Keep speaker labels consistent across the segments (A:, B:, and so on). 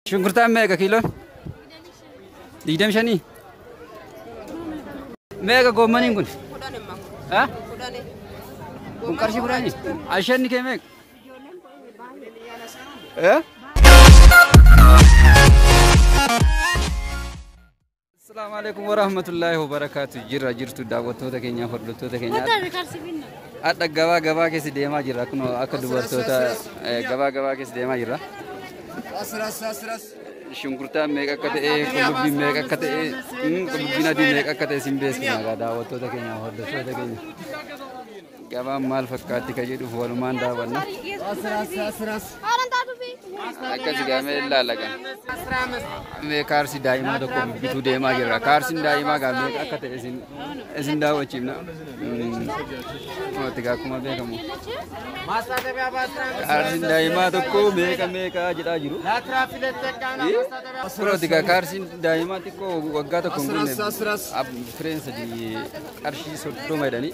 A: Shunkurtaan meeqa kiiloon? Digdami shanii? Meeqa goommaniin kun? Ha? Kun qarshii kudhanii? Ashanni kee meeqa? Eh? Assalamu alaikum wa rahmatullahi wa barakatuh. Jirra jirtu daawwattoota keenyaaf hordoftoota keenyaaf. Hadha gabaa gabaa keessa deemaa jirra. Akkuma akka dubartoota eh, gabaa gabaa keessa deemaa jirra. Shunkurtaan meeqa akka ta'e, qullubbiin meeqa akka ta'e, mm, qullubbiin adii meeqa akka ta'e sin beeksifna egaa daawwattoota keenyaaf hordoftoota keenya. Gabaan maal fakkaatti ka jedhuuf walumaan daawwanna. Akkas gaamee ilaala kan. Mee kaarsi daa'imaa tokko bituu deemaa jirra. Kaarsiin daa'imaa gaamee akka ta'e isin isin daawwachiifna. Mootii akkuma beekamu. Kaarsiin daa'imaa tokko meeqa meeqa jedhaa jiru. Firooti gaa kaarsiin daa'imaa xiqqoo waggaa tokko hin guunne. Fireen sadii qarshii soddoma jedhanii.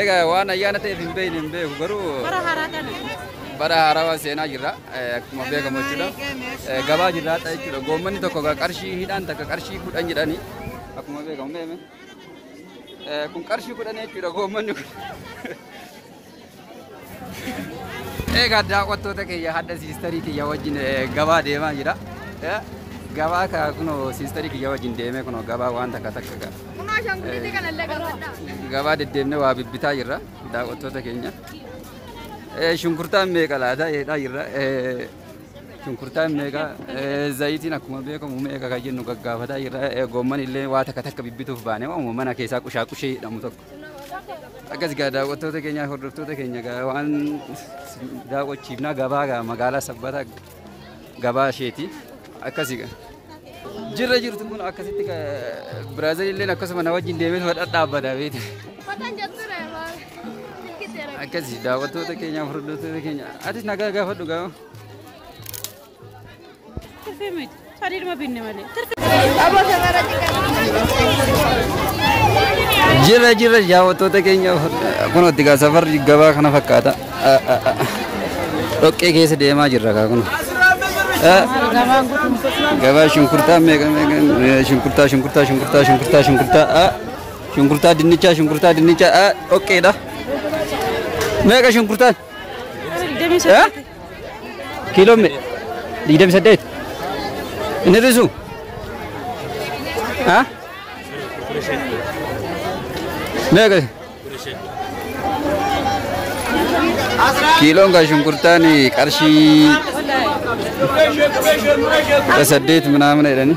A: Egaa waan ayyaana ta'eef hin beekne hin beeku garuu Bara haaraa kana. bara haarawaa seenaa jirra Eh, akkuma beekamu jechuudha Eh, gabaa jirra haadha jechuudha goommanni tokko ga- qarshii hidhaan takka qarshii kudhan jedhani akkuma beekamu meeme Eh, kun qarshii kudhan jechuudha goommanni kun Egaa daawwattoota kiyya hadha siistarii kiyya wajjin eh, gabaa deemaa jira. Eh, Gabaa ka kunoo siistarii kiyya wajjin deemee kunoo gabaa waan takka takka ga- Kunoo ashaangulliitii kana illee gaafadhaa. gabaa deddeemnee waa bibbitaa jirra daawwattoota keenya. Eh, Shunkurtaan meeqa laata jedhaa jirra. Eh, Shunkurtaan meeqa eh, zayitiin akkuma beekamu meeqa kan jennu gaggaafataa jirra. Eh, Goomman illee waa takka takka bibbituuf baane waamuma mana keessaa qushaa qushee jedhamu tokko. Akkas gaa daawwattoota keenyaa hordoftoota keenya gaa waan daawwachiifnaa gabaa gaa magaalaa sabbataa gabaa isheeti akkasi gaa. Jirra jirtu kun akkasitti biraazil illee akkasuma na wajjin deemee fadha dhaabbata beekte. Akkasi daawwattoota keenyaa hordoftoota keenya atis nagaa gaafadhu gaa. Jirra jirra daawwattoota keenya kun itti gaa safarri gabaa kana fakkaata. Dhoqqee keessa deemaa jirra kaa kun. Gabaa shunkurtaa meeqa meeqa shunkurtaa shunkurtaa shunkurtaa shunkurtaa shunkurtaa a shunkurtaa dinnichaa shunkurtaa dinnichaa a dhoqqeedha. Meeqa shunkurtaan? kiiloo me- digdamii saddeet hin hir'isu Ah? meeqa kiiloon kan shunkurtaan qarshii kudha saddeet minaamina jedhanii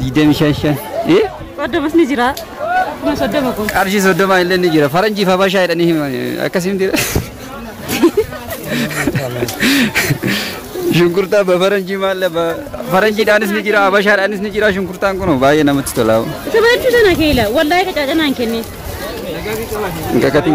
A: digdamii shan shan ee Soddomas ni jira.
B: Kuma soddoma kun. qarshii soddoma illee ni
A: jira faranjiif habashaa jedhanii himan akkasii miti shunkurtaa ba faranjii maalla ba faranjiidhaanis ni jira habashaadhaanis ni jira shunkurtaan kun baay'ee namatti tolaa Isa baay'ee sana keela.
B: Wallaahi qacaacanaan kennee.
A: hin kakatin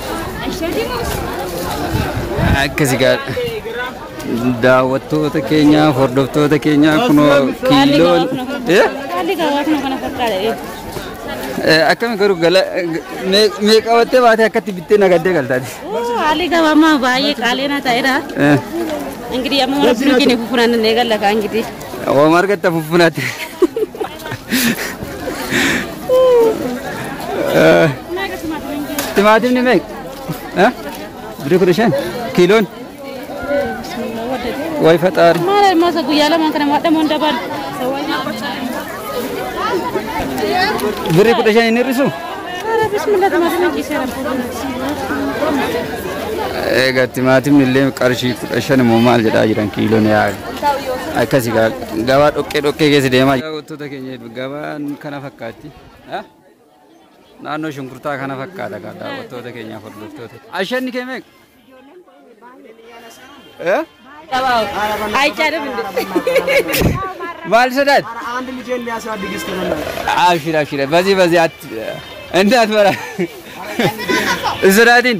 A: Akkasi gaa daawwattoota keenyaa hordoftoota keenyaa kunoo kiiloon Eh? Haalli
B: gaawaa kun kana fakkaata. Eh, akkami garuu
A: gala mee- mee qabattee baatee akkatti bittee nagaddee galtaati. Haalli gaawaa ammaa
B: baay'ee qaalii na ta'eera. Eh, Ingirii amma rabbiin keenya kufuran eegalla kaa ingirii. Ooma argatta
A: fuffunaatti. Timaatimni meeqa? Eh? Birrii kudha shan? Kiiloon? Wayi faxaari. Maal masa guyyaa lamaan
B: kana maadha moon dabal.
A: Birrii kudha shan hin hir'isu? Ara bismillah
B: timaatimni ciiseera.
A: Egaa timaatimni illee qarshii kudha shan immoo maal jedhaa jiran kiiloon yaa'u. Akkasi gabaa dhoqqee dhoqqee keessa deemaa jira. Wantoota keenya gabaan kana fakkaatti. Naannoo shunkurtaa kana fakkaata kan daawwattoota keenya hordoftoota. Ashanni kee meeqa?
B: Maal
A: sodaat?
C: Abshir abshir
A: bazi bazi atti. Indaat bara. Sodaatiin.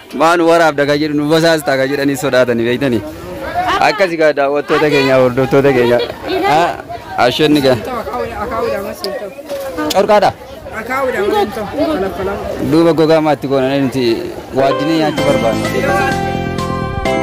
A: Maa nu waraabda kan jedhu nu basaasta kan jedhanii sodaatanii beektanii. Akkasi gaa daawwattoota keenya hordoftoota keenya. Ashenni gaa. Corqaadha. Duuba gogaa maatti goonanii nuti waaddinee nyaachuu barbaanna.